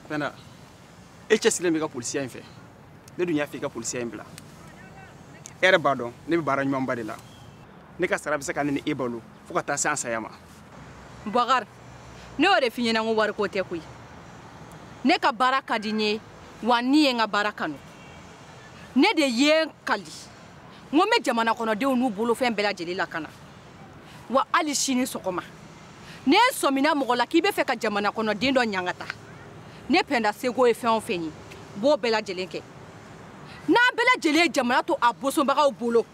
pɛnda e cɛsilen b'i ka polisiya in fɛ ne dun y'a fɛ i ka polisiya in bila e yɛrɛ b'a dɔn ne bɛ baara ɲumanba de la ne ka sara bɛ se ka ne ni e balo fo ka taa se an saya ma bakari ne y'o de f'i ɲɛna ko wariko tɛ koyi ne ka baara ka di n ye wa ne ye n ka baara kanu ne de ye n kali n ko n bɛ jamana kɔnɔdenw n'u bolofɛn bɛɛ lajɛlen lakana wa hali sini sɔgɔma ne sɔmina mɔgɔ la k'i bɛ fɛ ka jamana kɔnɔ den dɔ ɲangata ne pɛnda seko ye fɛn o fɛn ye n b'o bɛɛ lajɛlen kɛ n'an bɛɛ lajɛlen ye jamana to a bosonbagaw bolo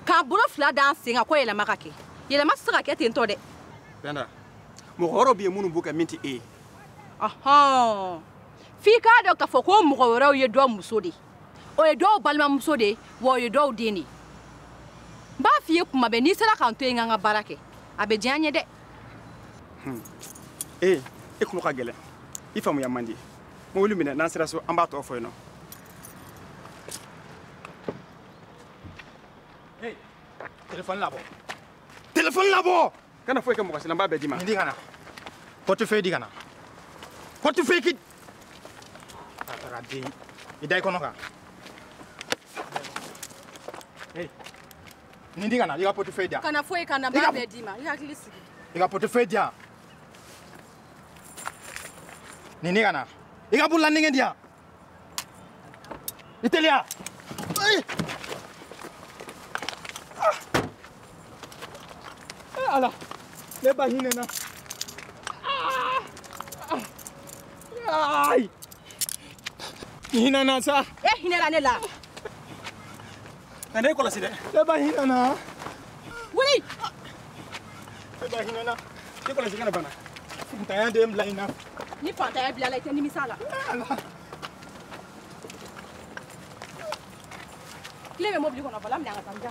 k'an bolo fila d'an sen kan ko yɛlɛma ka kɛ yɛlɛma tɛ se ka kɛ ten tɔ dɛ pɛnda mɔgɔ wɛrɛw bɛ yen minnu b'o kɛ min tɛ e ye f'i k'a dɔn k'a fɔ ko mɔgɔ wɛrɛw ye dɔ muso de ye o ye dɔw balimamuso de ye wa o ye dɔw den de ye n b'a f'i ye kuma bɛɛ n'i sera ka n to yen n ka n ka baara kɛ a bɛ diya n ye dɛ hmm. ee eh, e tulo ka gɛlɛn i faamuya man di mobili minɛ n'an sera so an b'a tɔ fɔ yen non telefɔni labɔ telefɔni labɔ kana foyi kɛ mɔgɔ si la n b'a bɛɛ d'i ma nin di ka na portefeuille di ka na portefeuille ki a taara den i da i kɔnɔ kan nin di ka na i ka portefeuille di yan kana foyi kɛ n na n b'a bɛɛ d'i ma i hakili sigi i ka portefeuille di yan nin di ka na i ka bololanɛgɛ di yan I teliya! Ai! Ah! Eh, ala! Ne ba hinɛ na. Ah! Ah! Ai! Hinɛ na sa! Eh, hinɛ na ne la. Ka ne kɔlɔsi dɛ. Ne ba hinɛ n na. Wuli. Ne ba hinɛ n na. Ne kɔlɔsi kana bana. Fantanya de ye n bila nin na. Ni fantanya y'i bila a la i tɛ nimisa la. Clé bɛ mobili kɔnɔ volant minɛ an ka taa n'a ye.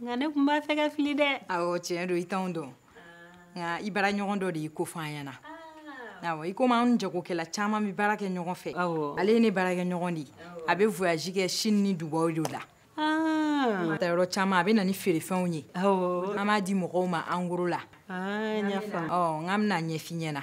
nka ne tun b'a fɛ ka fili dɛ awɔ tiɲɛ don i t'anw dɔn nka i baara ɲɔgɔn dɔ de y'i ko fɔ an ɲɛna awɔ i komi anw jagokɛla caman bɛ baara kɛ ɲɔgɔn fɛ ale ye ne baarakɛ ɲɔgɔn de ye a bɛ voyage kɛ chine ni dubai de la a taa yɔrɔ caman a bɛ na ni feerefɛnw ye an b'a di mɔgɔw ma en gros la ah, n y'a faamu ɔ n k'an bɛn'a ɲɛf'i ɲɛna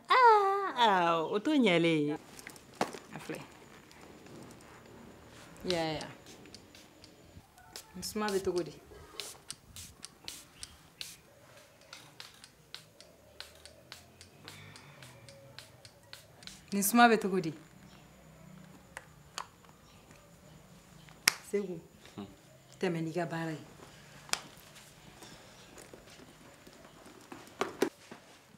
aa o to ɲɛlen ye a filɛ yaya suma bɛ cogo di nin suma bɛ cogo di segu tɛmɛ n'i ka baara ye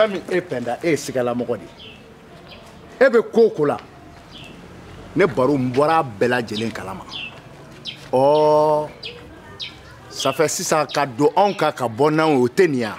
fɛn min e pɛnda e ye sigalamɔgɔ de ye e bɛ ko o ko la ne baru n bɔra a bɛɛ lajɛlen kalama ɔɔ safɛ sisan ka don anw kan ka bɔ n'anw ye o tɛ nin ye wa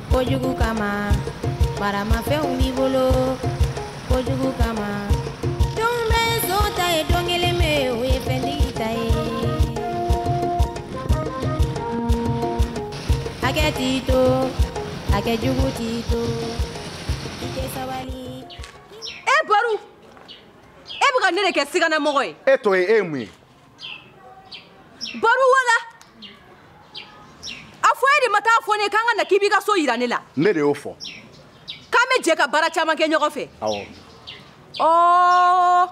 kojugu kama maramafɛnw b'i bolo kojugu kama don bɛɛ son ta ye don kelen pe o ye fɛntigi ta ye hakɛ t'i to hakɛ jugu t'i to i tɛ sabali. e baru e bɛ ka ne de kɛ siganamɔgɔ ye. e t'o ye e ye mun ye. baru wala a fɔ e de ma taa fɔ ne k'an ka na k'i b'i ka so yira ne la ne de y'o fɔ k'an bɛ jɛ ka baara caman kɛ ɲɔgɔn fɛ awɔ ɔɔ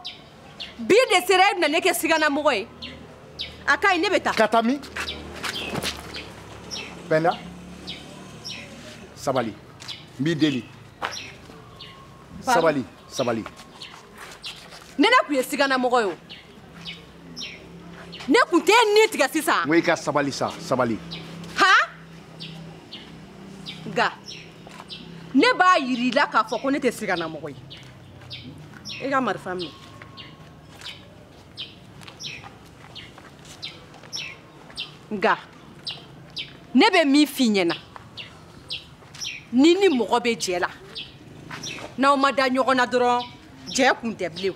bi de sera e bɛna ne kɛ siganamɔgɔ ye a ka ɲi ne bɛ taa ka taa min pɛnda sabali n b'i deli sabali sabali ni ne tun ye siganamɔgɔ ye o ne kun t'e ni tigɛ sisan. n ko i ka sabali sa sabali. ha nka ne b'a yir'i la k'a fɔ ko ne tɛ siganamɔgɔ ye i ka marifa minɛ. nka ne bɛ min f'i ɲɛna n'i ni mɔgɔ bɛ jɛ la n'aw ma da ɲɔgɔn na dɔrɔn jɛ kun tɛ bilen